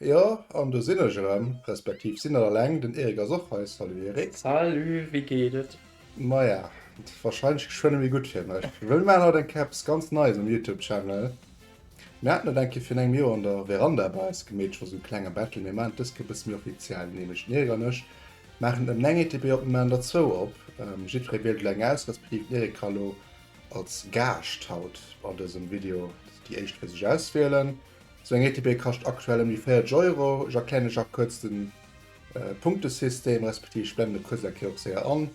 Jo, an do sinn ech erëm, respektiv sinn net alleng, den Erik ass och hei. Salut Erik. Salut, wéi geet et? Maja, wahrscheinlech geschwënn méi gutt fir mech, wëll mir maachen haut eng Kéier eppes ganz Neies um Youtube Channel. Mir haten et eng Kéier virun engem Joer an der Veranda bei eis gemeet, just um klenge Bettel. Mir maachen et dës Kéier e bësse méi offiziell, nämlech den Erik an ech maachen ëm 9 ETB op, mir maachen der zwou op, jiddweree wielt elo eng aus, respektiv den Erik ka elo als Gaascht haut an dësem Video déi éischt fir sech auswielen. Sou eng ETB kascht aktuell ëm déi 40 Euro. Ech erklären iech nach kuerz de Punktesystem respektiv ech blenden e kuerz eng Kéier och séier an.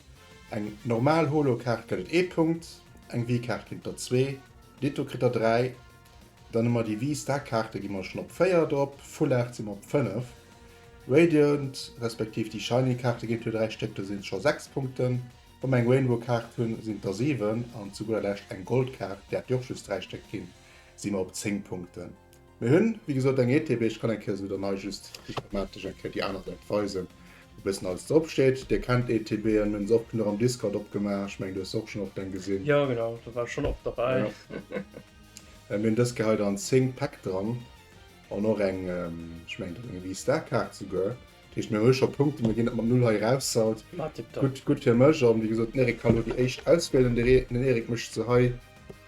Eng normal Holo-Kaart gëtt et ee Punkt, eng Wii-Kaart ginn et der zwee, ditto kritt der dräi. Dann hu mer déi Wii-Star-Kaarte gi mer schonn op véier drop, Full Art si mer op fënnef, Radiant respektiv déi Shiny-Kaarte ginn et jo dräi Stéck, do sinn et scho sechs Punkten. Wa mer eng Rainbow-Kaart hunn, sinn et der siwen an zu gudder Lescht eng Gold-Kaart, där et jo och just dräi Stéck ginn, si mer op 10 Punkten. Mir hunn, wéi gesot, eng ETB. Ech kann eng Kéier esou der nei just déi schematesch eng Kéier déi aner Säit weisen, wou e bëssen alles drop steet. Dir kennt d'ETBen, mir hunn se och genuch am Discord opgemaach. Ech mengen, du hues se och schonn oft eng gesinn. Jo, genau, do war ech schonn oft derbäi. Mir hunn dës Kéier hei der an 10 Päck dran an och eng, ech mengen, do ass eng V-Star-Kaart esouguer. Dat heescht, mir hu scho Punkten, mir ginn dat mat Null hei eraus haut. Gutt fir mech. A wéi gesot, den Erik kann elo déi éischt auswielen. Den Erik mécht se hei.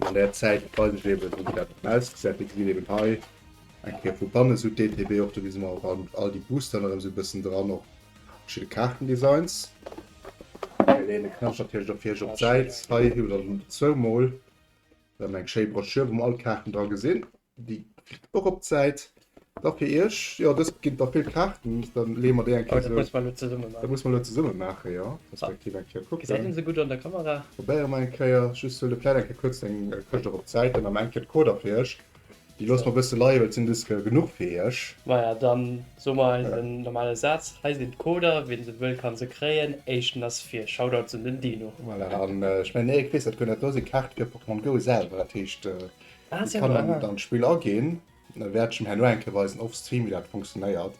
An der Zäit weis ech eben, wéi dat ausgesäit. Dir gesitt eben hei eng Kéier vu banne sou d'ETB och. Do gi se mer ran, all déi Booster nach erëm sou e bëssen dran, och verschidde Kaartendesigns. Mir leeën de Knascht natierlech och fir iech op d'Säit. Hei hutt der zwou Mol erëm eng schéi Broschür, wou mer all d'Kaarten dra gesinn. Déi kritt och op d'Säit. Da fir iech, jo dëst ginn da vill Kaarten, da leeë mer déi eng Kéier esou. Musse mer elo zesummen maachen. Da musse mer elo zesummen maachen, jo. Respektiv eng Kéier kucken. Gesäit een se gutt an der Kamera? Probéiere mer eng Kéier. Just huel de vläit eng Kéier kuerz deng Këscht och op d'Säit, dann am Enn fir d'Coder fir iech. Déi loosse mer e bësse leie well et sinn just genuch fir iech. Maja, da soe mer eis en normale Saz. Hei sinn d'Coder, wien se wëll ka se kréien. Éischten ass vir. Shoutouts un den Dino. Voilà, an ech mengen Eric weess dat guer net. Do sinn d'Kaarte fir Pokémon Go selwer, dat heescht. Ech kann dann an d'Spill aginn, da wäert ech em herno eng Kéier weisen off stream wéi dat funktionéiert.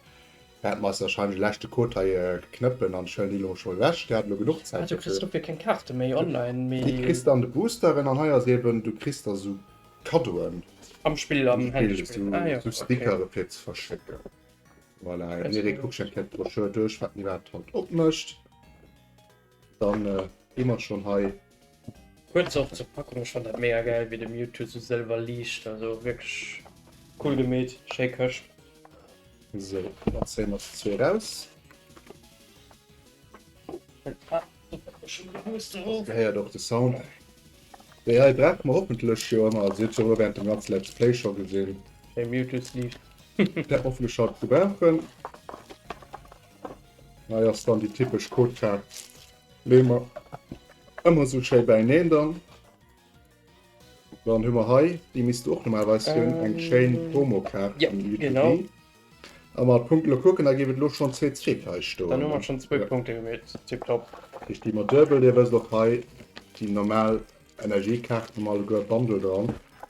Wäert mer eis warscheinlech e leschte Code hei knëppen an ech huelen déi elo scho ewech, där hat elo genuch Zäit dofir. Du kriss dofir keng Kaarte méi online, mee. Déi kriss de an de Boosteren an hei ass eben, du kriss da sou Kaddoen. Am Spill, am Handyspill, ah jo, ok. Sou Stickere fir ze verschécken. Voilà, Miri kuckt eng Kéier d'Broschür duerch, wat mir iwwerhaapt haut opmécht. Dann gi mer schon hei. Kuerz och zur Packung, ech fannt dat mega gäil wéi de Mewtwo sou sëlwer liicht, also wierklech cool gemeet, schéi Këscht. Sou, dann zéie mer déi zwee raus. Dir héiert och de Sound. Déi hei brauche mer hoffentlech jo ëmmer, also dir hutt se jo elo während dem ganze Let's Play scho gesinn. Schéi Mewtwo-Sleeve. Hoffentlech haut gebrauchen. Hei ass dann déi typesch Codekaart. Leeë mer ëmmer esou schéi bäineen. Dann hu mer hei, déi misst och normalerweis hunn, eng schéin Promokaart am Utility. A mat Punkte elo kucken, da géif et elo schonn zwee Trick hei stoen. Dann hu mer schonn zwee Punkte gemeet. Tiptop. Ech gi mer duebel. Dir wësst och hei déi normal Energiekaart, hu mer alleguer e Bundle dran.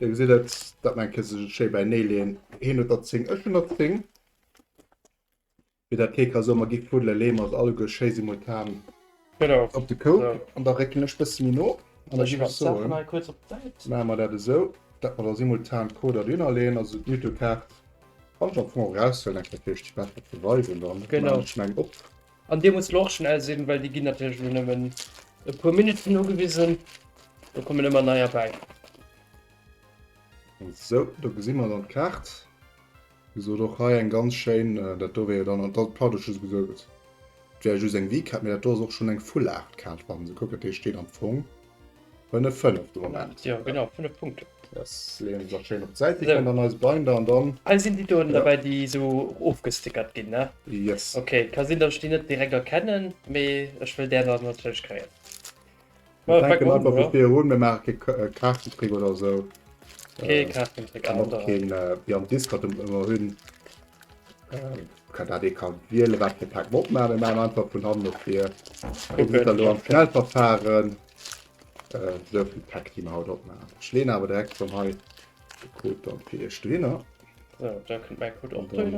Dir gesitt et, dat Männche ka sech et schéi bäinee leeën. Hien huet der 10, ech hunn der 10. Fir dat kee ka soen, ma gi fuddelen, leeë mer se alleguer schéi simultan op de Koup. An da réckelen ech e bësse méi no. An da géif ech soen, maache mer dat esou, dat mer da simultan d'Coder dohinner leeën, also d'Mythokaart kann ech am Fong och eraushuelen, eng Kéier fir iech déi besser ze weisen. Dann maachen ech meng op. An dir muss lo och schnell sinn, well déi ginn natierlech elo nëmmen e puer Minutten ugewisen. Do kommen ëmmer nei erbäi. Sou, do gesi mer dann d'Kaart. Wéi gesot och hei eng ganz schéin, dat do wär jo dann, dat Platt huet just gesot, et wär just eng Vkaart, mee dat do ass och schonn eng Fullaachtkaart, wa mer se kucken. Dat heescht, déi do am Fong. Hun e 5 dran hat. Ja genau 5 Punkten. Yes, leeën se schéin op d'Säit. Déi kënnt an eise Binder an dann. Ah, sinn déi do dobäi, déi esou ofgestickert ginn, ne? Yes. Okay, ka sinn, datt ech déi net direkt erkennen, mee ech wëll där dann natierlech kréien. Mir fänken einfach vu vir un, mir maache kee Kaartentrick oder esou. Kee Kaartentrick, an och keen, wéi am Discord ëmmer hunn. Kann dat ee kann wiele wat fir Pack Mob man man einfach vun hannen op fir lo am schnell verfahren sou vill Pack die haut op man schleen awer direkt schon hei gekrut an fir iech dohinner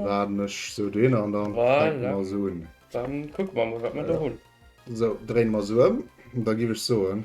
warnech sou dohinner an dann man sou hunn dann kuck man wat man do hunn sou dréin man sou ëm da giwech soen.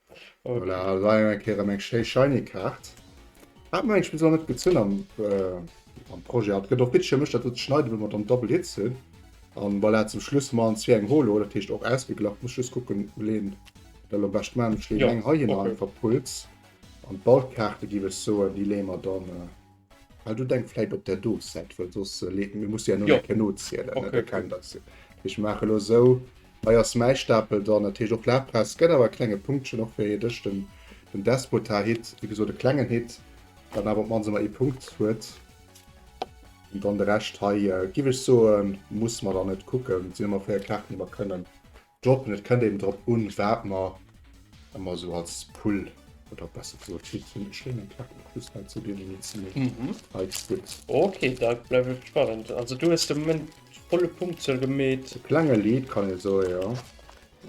Okay. Voilà, leider eng Kéier eng schéi shiny Kaart. Hat mir eigentlich bis net gezünn am, äh, am Projet. Hat gëtt och Bitcher mech dat schneiden, wenn man dann Double Hits hunn. An voilà, zum Schluss man zwee eng Holo, dat heescht och ausgeglacht. Muss just kucken, Leen da lo bescht man. Ech leen eng heihin an, verpulz. An d'Ballkaarte giff ech soen, déi leeë mer dann, äh. Ah, du denk vielleicht op der do set weil sos äh, le- mir muss ja Ja. no nozielen Okay, okay. okay. das ich mache lo so eiers mei stapel dann natürlich och lapress gëtt awer klenge punktchen och fir dech den den despota hit wie geso de klengen hit dann aber man se mal e punkt huet und dann de recht hei äh, giwech so muss man dann net kucken sind immer fir karten immer können Jobben. Et kënnt eben drop un, wat mer ëmmer esou als Pull oder besser gesot Hit hunn. Ech léinen d'Kap och just hei zou deenen Needs méi heiz gutt. Ok, da bleift et spannend. Also do hues de Moment volle Punktzuel gemeet. E klenge Lead kann ee soe, jo,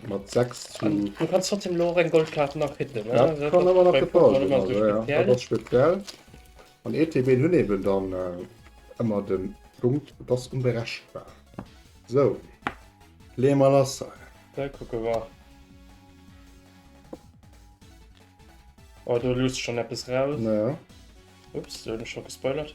mat 6 zu. An du kanns trotzdem elo och eng Goldkaart nach hitten, ne? Dat kann ëmmer nach gebraucht ginn, also jo, dat ass speziell. An ETBen hunn eben dann ëmmer den Punkt dass unberechenbar. Sou, leeë mer lass hei. Da kucke mer. Oh, do luusst schonn eppes raus. Ups, do hunn ech scho gespoilert.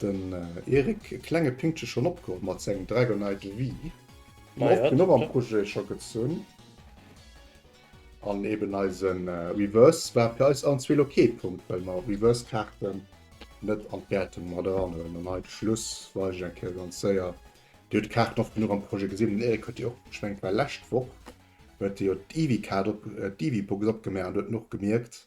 Den Eric, e klenge Pinkche schon opgeholl mat sengem Dragonite V. Ma jo, den och am Projet scho gezunn. An eben eise Reverse war fir eis allen zwee lo kee Punkt, well mer Reverse-Kaarten net an d'Wäertung mat eranhuelen. An hei de Schluss weis ech eng Kéier ganz séier, Dir hutt d'Kaarten oft genuch am Projet gesinn. Den Eric huet déi och, ech mengen et war lescht Woch, huet e jo d'Ivy-Kaart op, d'Ivy-Box opgemaach an huet den och gemierkt.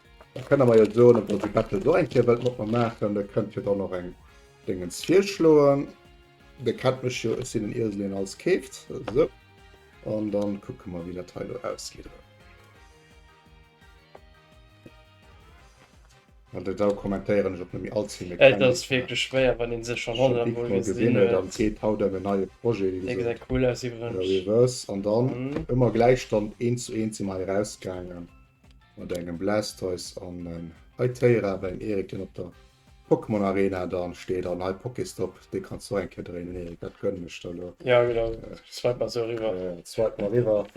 Da kënne mer jo soen, obwuel de Bettel do eng Kéier wëllt mat mer maachen, da kënnt hie dann och eng Déngens virschloen. Dir kennt mech jo, ech sinn en Iesel, deen alles keeft. Esou. An dann kucke mer, wéi dat hei elo ausgeet. An den Dau kommentéieren ech och net méi allze vill. Et ass wierklech schwéier, wann ee sech schonn honnert Mol gesinn huet. An seet, haut ëm en neie Projet, wéi gesot. E gesäit cool aus iwwerens. An dann ëmmer gläich dann eent zu eent si mer hei erausgaangen. Mat engem Blastoise an en Hytera bei den Erik den op der Pokémon Arena dann steet an hei Pokéstop dee kanns du och eng Kéier dréinen den Erik dat gönnen ech der lo. Jo genau, swipe mer sou eriwwer. Swipe mer eriwwer,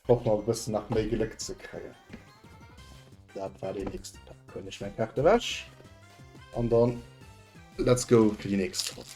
hoffen mer e bëssen nach méi Gléck ze kréien. Dat war deen nächste Pak, huelen ech meng Kaart ewech an dann let's go fir déi nächst Ronn.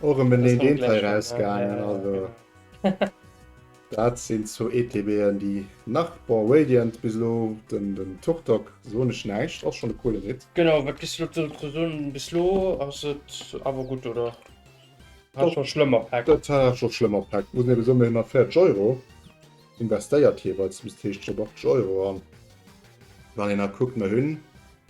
Och em en deen deen Teil rausgaangen also daat sin zwou ETBen déi nach bon Radiant bis elo den den Turtok soen ech näischt ass schon e coolen Hit. Genau wat gess du dozou ze soen bis lo ass et awer gudd oder hat scho schlëmmer Päck? Dat hat scho schlëmmer Päck muss een eben soen mee hunn nach 40 Euro investéiert jeweils bis d'Heescht scho 80 Euro an wann een nach kuckt mer hunn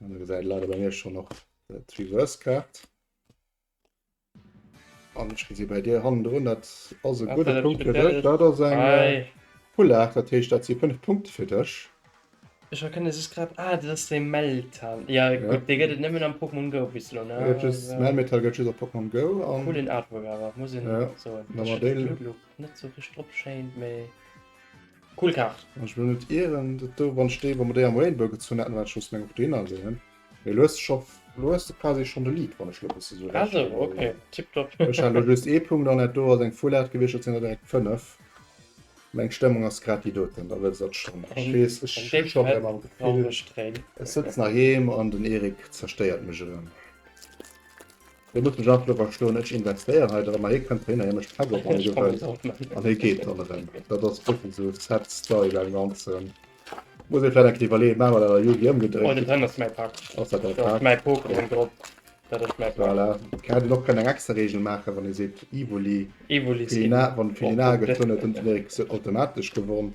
Dann gesäit et leider bei mir schon nach dat Reverse Kaart. An ech gesi bei dir hannen drun, dat ass e gudde Punkt fir dech. Dat ass eng äh, Full 8, dat heescht dat si 5 Punkte fir dech. Ech erkenne just grad, ah dat ass dee Meltan, jo gutt, dee gëtt et nëmmen am Pokémon Go bis elo ne? Melmetal gëtt just op Pokémon Go. Coolen Artwork awer, muss een soen. net sou richt drop schéint mee cool Kaart. Ech hunn et ieren dat do wann ech déi wa mer déi am Rainbow gezunn hätten wat ech soss meng op deen aléen mee elo hues de scho elo hues de quasi schonn de Lead wann ech lo bësse sou recht elo hu ech hat elo just ee Punkt an dat do ass eng Full Art gewiescht dat sinn der direkt 5 meng Stëmmung ass grad déi doten da wëlls dat schonn ech weess ech hu scho rem am Gefill ech sëtzen heiheem an den Erik zerstéiert mech erëm. Hie muss mech einfach do verstoen. Ech investéieren hei dorëmmer, hie kënnt dohinner, hie mécht d'Päck op an hie geet weider an hie geet dann erëm. Dat ass wierklech esou sad story beim Ganzen. Muss ee vläit eng Kéier iwwerleeën, maache mer dat a Yu-Gi ëmgedréit? Voilà, dat ass mäi Pak. Voilà, hie hätt een och kënnen eng extra Reegel maachen, wann ee seet Evoli, Evoli, Felina, wann Felina geet, dann huet den Erik se automatesch gewonn.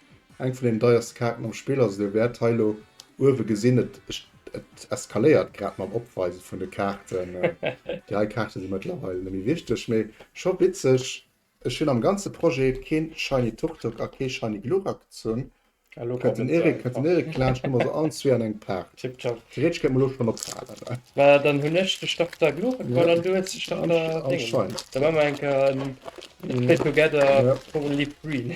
Eng vun den deierste Kaarten am Spill ass et o wärt hei lo uewe gesin. Et eskaléiert grad mam Opweise vun de Kaarten. Déi hei Kaarte si mëttlerweil nemme wichteg, mee scho witzeg. Ech hun am ganze Projet keen Shiny Turtok a kee Shiny Glurak gezunn. Kënnt den Erik laanscht, hu mer se allen zwee an engem Paak. Theoretesch kéint mer lo schon ophalen. Mä dann hun ech de Starter Glurak an du hues de Starter Dingens. Da man mer eng Kéier en Play Together for a Leaf Green.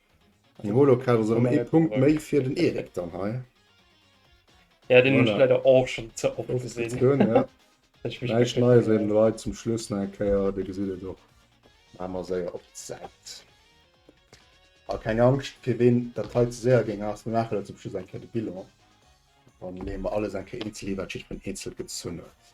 Den Holokaus ass erëm ee Punkt méi fir den Erik dann hei. Ja, deen hun ech leider och schon ze oft gesinn. Näischt Neies wéi den Leit zum Schluss nach eng Kéier, Dir gesitt et och. Maache mer séier op d'Säit. A keng Angscht, fir ween dat hei ze séier géing ass, mir maache lo zum Schluss eng Kéier de Bilan. Dann leeë mer alles eng Kéier eenzel hi, wat jiddwereen eenzel gezunn huet.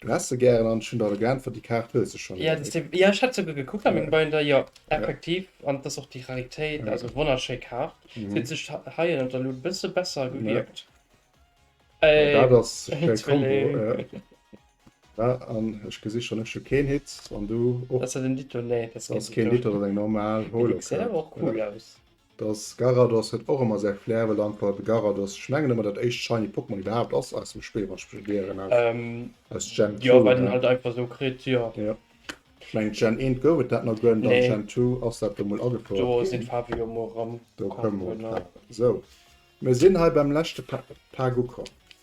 Du häss se gären an ech hun der geäntwert déi Kaart hues de schon. Jo ech hat souguer gekuckt an mengem Binder, jo effektiv an et ass och déi Raritéit, also wonnerschéi Kaart. Se huet sech hei an der Luut e bësse besser gewierkt. Dat ass de Combo jo. Wa an ech gesi schon, ech hu keen Hit an du och. Dat ass jo den Ditto, nee dat ass keen Ditto, dat ass eng normal Holo Kaart. Déi Xero och cool aus. Dass Garados huet och emmer säi Flair, well einfach de Garados, ech mengen emmer dat éischt shiny Pokémon iwwerhaapt ass aus dem Spill wann ech mech net ieren halen, aus Gen 2 jo, well en halt einfach esou kritt jo. Jo, ech mengen Gen 1 gouf et dat nach guer net, an Gen 2 ass dat do mol agefouert ginn, do sinn d'Faarwe jo mol erëm, do kommen mer och drop, sou mir sinn hei beim leschte Tag ukomm.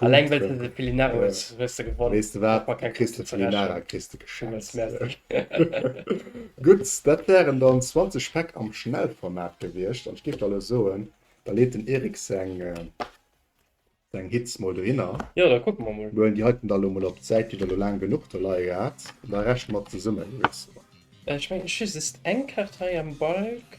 Alleng well de de Pelinara hues, hues de gewonnen. Weess de wat, kriss de Pelinara kriss de geschenkt. Gutt, dat wären dann 20 Päck am Schnellformat gewiescht. An ech géif da elo soen, da leet den Eric seng Hits mol dohinner. Jo, da kucke mer mol. Luejen déi heiten da elo mol op d'Säit, déi der elo laang genuch do leie gehat. An da rechne mer zesummen, wéi soen. Ech mengen, ech hu just eng Kaart hei am Balk.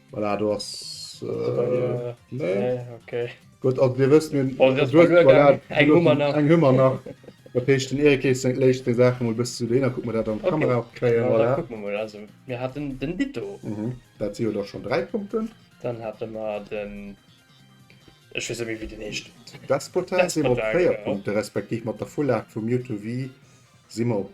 Voilà, do ass. Gutt, also Dir wësst, mir hunn eng Hummer nach. Dat heescht, den Erik léisst seng Saache mol e bëssen zu do hin, da kucke mer, dat an d'Kamera och kréien. Voilà, kucke mer mol. Also mir haten den Ditto. Dat si jo da schonn dräi Punkten. Dann hate mer den, ech weess net méi, wéi deen heescht. Despota si mer op véier Punkte, respektiv mat der Vullag vu Mewtwo Vii si mer op.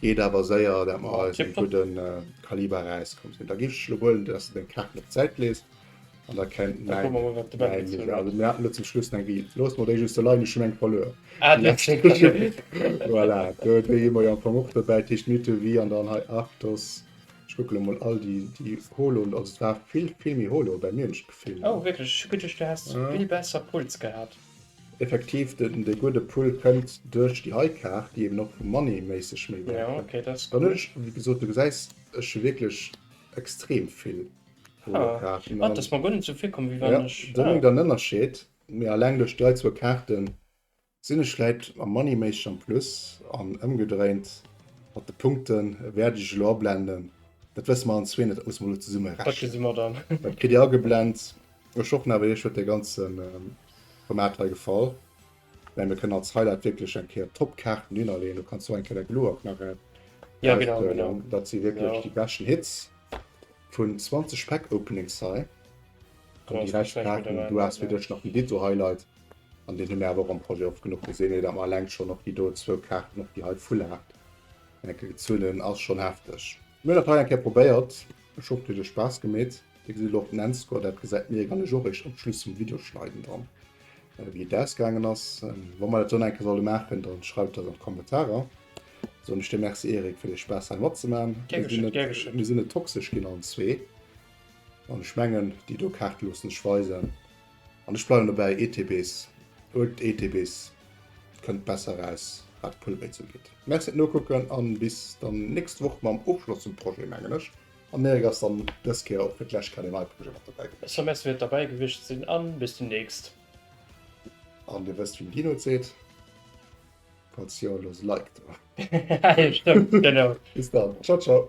Geet awer séier dat mer eisen gudden Kaliber eraus komm sinn. Da giff ech lo huelen dass de deng Kaart mat Säit lees an da kennt mäin Mäin mir haten do zum Schluss eng Wii looss mer déi just do leien ech hunn eng verluer Voilà do déi hu mer jo am Fong och dobäi Tëscht Nuit de Vie an dann hei Arctos Ech kucke lo mol all déi déi Holo also et war vill vill méi Holo bei mir hunn ech d'Gefill, oh wierklech ech hu geduecht du häss vill besser Puls gehat. Effektiv, dee gudde Pull kënnt duerch déi hei Kaart, déi eben och vum Money méisseg méi wäert kënnt. Dann hunn ech, wéi gesot, du gesäis ech hu wierklech extrem vill Polokaarten. An do méngt der en Ënnerscheed, mee alleng duerch déi hei zwou Kaarten sinn ech vläit am Money méisseg am Plus. An ëmgedréint mat de Punkte wäert ech elo ablenden, dat wësse mer allen zwee net, dat musse mer elo zesummerechnen, dat kritt Dir ageblent. Ech och net, mee ech huet dee ganze Format hei gefall. Mä mir kënnen als Highlight wierklech eng Kéier top Kaarten hinnerleeën. Do kanns du eng Kéier däi Glow-Up nach aushuelen. Dat si wierklech déi beschten Hits vun 20 Pack-Openings hei. An déi räich Kaarten, du has fir dech nach den Ditto Highlight. An deen hu mir awer och am Projet oft genuch gesinn, mee datt mer eleng schonn och déi do zwou Kaarten, och déi hei Full Art, eng Kéier gezunn hunn, ass schonn hefteg. Mir hun dat hei eng Kéier probéiert, ech hoff dir huet iech Spaass gemeet. Dir gesitt elo op den Endscore, dat gesäit mir egal, ech och eréischt am Schluss vum Video schneiden dann wéi et ausgaangen ass. Wa mer dat esou eng Kéier solle maachen, dann schreift dat an d'Kommentarer. Soen ech dir Merci Eric fir de Spaass hei matzemaachen. Gär geschéen, gär geschéen. Mir sinn net toxesch ginn allen zwee an ech mengen déi do Kaarte loossen sech weisen. An ech bleiwen dobäi, ETBs, Old ETBs, kënnt besser raus wat d'Pulleréits ugeet. Merci et nokucken an bis dann nächst Woch mam Ofschloss zum Projet mengen ech. An Erik ass dann dës Kéier och fir d'lescht Kal en Ei Projet mat dobäi gewiescht. Ech soe merci fir d'Derbäi gewiescht sinn an bis demnächst. An dir wësst wéi den Dino et seet, falls jo looss e Like do. Haha jo stëmmt, genau. Bis dann, ciao ciao.